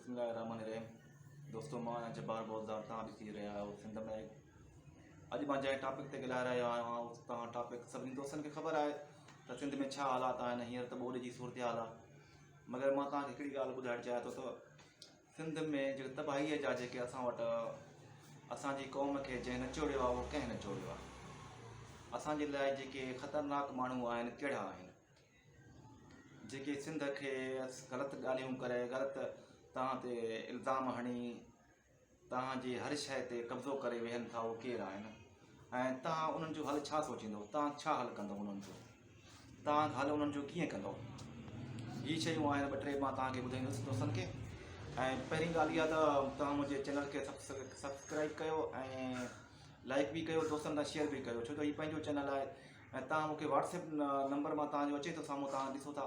بسم الله الرحمن الرحيم دوستو مان جبار بوزدار تان ڏسي رهيا آهيو سنڌ ۾ اڄ مان جنهن ٽاپڪ تي ڳالهائي رهيو آهيان اس تان ٽاپڪ سڀني دوستن کي خبر آهي ته سنڌ ۾ ڇا حالات آهن هينئر ته ٻوڏ جي صورتحال آهي مگر مان تان کي هڪڙي ڳالهه ٻڌائڻ چاهيان ٿو ته سنڌ ۾ جيڪي تباهيء جا جيڪي اسان وٽ اسان جي قوم کي جنهن نچوڙيو آهي اهو ڪنهن نچوڙيو آهي؟ اسان جي لاء جيڪي خطرناڪ ماڻهو آهن ڪهڙا آهن؟ جيڪي سنڌ کي غلط ڳالهيون ڪري غلط توهان تي الزام هڻي توهان جي هر شيء تي قبضو ڪري ويهن ٿا اهو ڪير آهن؟ ۽ توهان انهن جو حل ڇا سوچيندو؟ توهان ڇا حل ڪندو انهن جو؟ تان گهالو انهن جو ڪيئن ڪندو؟ هي شيون آهن ٻه ٽي مان تان کي ٻڌائيندس دوستن کي ۽ پهرين ڳالهه اها ته تان منهنجي چينل کي سبسڪرائيب ڪيو ۽ لائڪ به ڪيو دوستن تان شيئر به ڪيو ڇو ته هي پنهنجو چينل آهي ۽ تان مون کي واٽس ايپ نمبر مان تان جو اچي ٿو سامهون تان ڏسو ٿا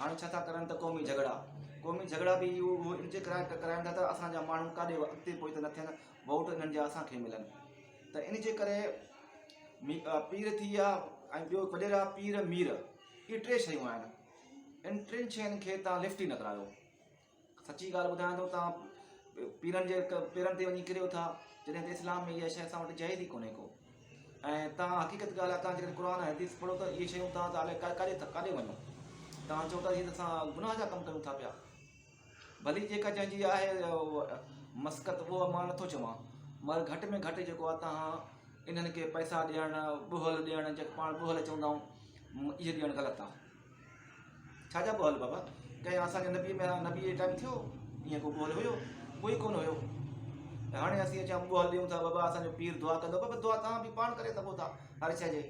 هاڻي ڇا ٿا ڪرن ته قومي جهڳڙا قومي جهڳڙا به اهو اهو ان جي ڪرائي ڪرائن ٿا ته اسان جا ماڻهو ڪاڏي اڳتي پوئتي نه ٿين ووٽ انهن جا اسان کي ملن ته ان جي ڪري مي پير ٿي ويا ۽ ٻيو وڏيرا پير مير اهي ٽي شيون آهن ان ٽن شين کي تان لفٽ ئي نه ڪرايو سچي ڳالهه ٻڌايان ٿو توهان پيرن جي پيرن تي وڃي ڪريو ٿا جڏهن ته اسلام ۾ اها شيء اسان وٽ جائز ئي ڪونهي ڪو ۽ توهان حقيقت ڳالهه آ توهان جيڪڏهن قرآن ۽ حديث پڙهو ته اهي شيون توهان ته الائي ڪاڏي ٿا ڪاڏي وڃو توهان چئو ٿا جيئن اسان گناهه جا ڪم ڪيون ٿا پيا ڀلي جيڪا جنهن جي آهي مسقت اهو مان نٿو چوان مگر گهٽ ۾ گهٽ جيڪو آ توهان انهن کي پئسا ڏيڻ ٻهل ڏيڻ جيڪو پاڻ ٻهل چوندا آهيون اهي ڏيڻ غلط آ ڇا جا قول بابا ڪيا اسان جي نبي ۾ نبي جي ٽائيم ٿيو ايئن ڪو قول هيو ڪوئي ڪونه هيو ته هاڻي اسين اچان قول ڏيون ٿا بابا اسان جو پير دعا ڪندو بابا دعا تان به پاڻ ڪري سگهو ٿا هر شي جي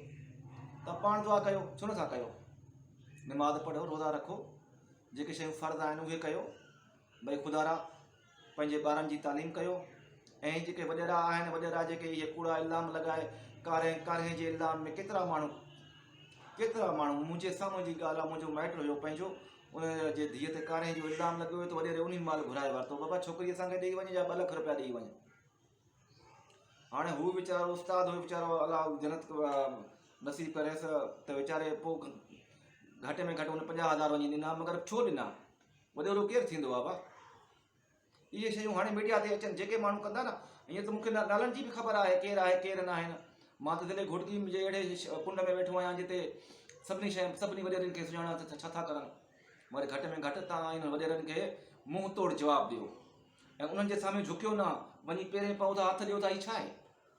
ته پاڻ دعا ڪيو ڇو نه ٿا ڪيو نماز پڙهو روزا رکو جيڪي شيون فرض آهن اهي ڪيو بھي خدارا پنهنجي ٻارن جي تعليم ڪيو ۽ جيڪي وڏيرا آهن وڏيرا جيڪي اهي ڪوڙا الزام لڳائي ڪارنهن ڪارنهن جي الزام ۾ ڪيترا ماڻهو ڪيترا ماڻهو منهنجي سامهون جي ڳالهه آهي منهنجو مائٽ هيو پنهنجو ان جي ڌيء تي ڪارنهن جو الزام لڳو ويو ته وڏيري انهي مال گهرائي ورتو بابا ڇوڪري اسان کي ڏيئي وڃي جا ٻه لک روپيا ڏيئي وڃ هاڻي هو ويچارو استاد هو ويچارو الله جنت نصيب ڪريس ته ويچاري پوء گهٽ ۾ گهٽ هن پنجاهه هزار وڃي ڏنا مگر ڇو ڏنا وڏيرو ڪير ٿيندو آ بابا اهي شيون هاڻي ميڊيا تي اچن جيڪي ماڻهو ڪندا نه ائين ته مونکي نالن جي به خبر آهي ڪير آهي ڪير نه آهن مان ته ضلعي گهوٽڪي جي اهڙي ڪنڊ ۾ ويٺو آهيان جتي سڀني شي سڀني وڏيرن کي سڃاڻا ته ڇا ٿا ڪرن مگر گهٽ ۾ گهٽ تان انهن وڏيرن کي منهن توڙ جواب ڏيو ۽ انهن جي سامهون جهڪيو نه وڃي پيرين پئو ٿا هٿ ڏيو ٿا هي ڇا آهي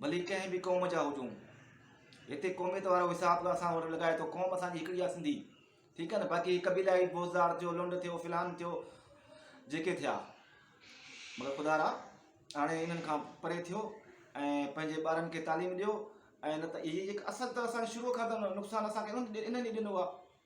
ڀلي ڪنهن به قوم جا هجون هتي قوميت وارو حساب ته اسان وٽ لڳائي ٿو قوم اسان جي هڪڙي آ سنڌي ٺيڪ آ نه باقي هي قبيلائي بوزدار ٿيو لنڊ ٿيو فلان ٿيو جيڪي ٿيا مگر خدا را هاڻي انهن کان پري ٿيو ۽ پنهنجي ٻارن کي تعليم ڏيو ۽ نه ته هي هڪ اصل ته اسان شروع کان ته نقصان اسان کي انهن ئي ڏنو آ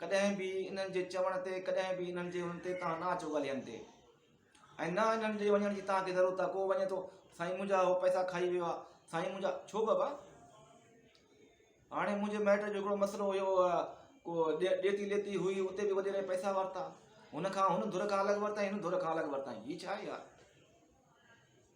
ڪڏهن به انهن جي چوڻ تي ڪڏهن به انهن جي ان تي توهان نه اچو ڳالهين تي ۽ نه انهن جي وڃڻ جي توهان کي ضرورت آهي ڪو وڃي ٿو سائين منهنجا هو پئسا کائي ويو آهي سائين منهنجا ڇو بابا هاڻي منهنجي مائٽ جو هڪڙو مسئلو هيو ڪو ڏيتي ليتي هئي اتي به وڏيري پئسا ورتا هن کان هن ڌر کان الڳ ورتا هن ڌر کان الڳ ورتا هي ڇا آهي يار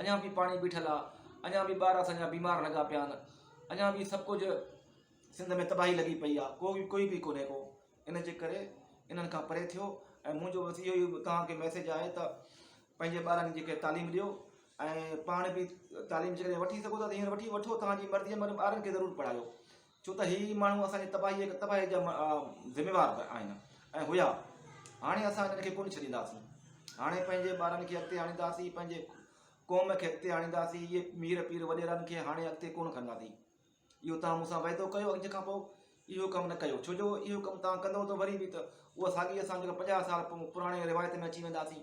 اڃا به پاڻي بيٺل آ اڃا به ٻار اسان جا بيمار لڳا پيا آهن اڃا به سڀ ڪجهه سنڌ ۾ تباهي لڳي پئي آ ڪو به ڪوئي به ڪونهي ڪو ان جي ڪري انهن کان پري ٿيو ۽ منهنجو بس اهو ئي توهان کي ميسيج آهي ته پنهنجي ٻارن جي کي تعليم ڏيو ۽ پاڻ به تعليم جيڪڏهن وٺي سگهو ٿا ته هينئر وٺي وٺو توهان جي مرضي مگر ٻارن کي ضرور پڙهايو ڇو ته هي ماڻهو اسان جي تباهيء تباهيء جا ذميوار به آهن ۽ هيا. هاڻي اسان هنن کي ڪونه ڇڏينداسين. هاڻي پنهنجي ٻارن کي اڳتي آڻينداسين، پنهنجي قوم کي اڳتي آڻينداسين، اهي مير پير وڏيرن کي هاڻي اڳتي ڪونه کڻنداسين. اهو توهان مون سان وعدو ڪيو اڄ کان پوء اهو ڪم نه ڪيو، ڇو جو اهو ڪم توهان ڪندئو ته وري به ته اها ساڳي اسان جيڪا پنجاهه سال پراڻي روايت ۾ اچي وينداسين.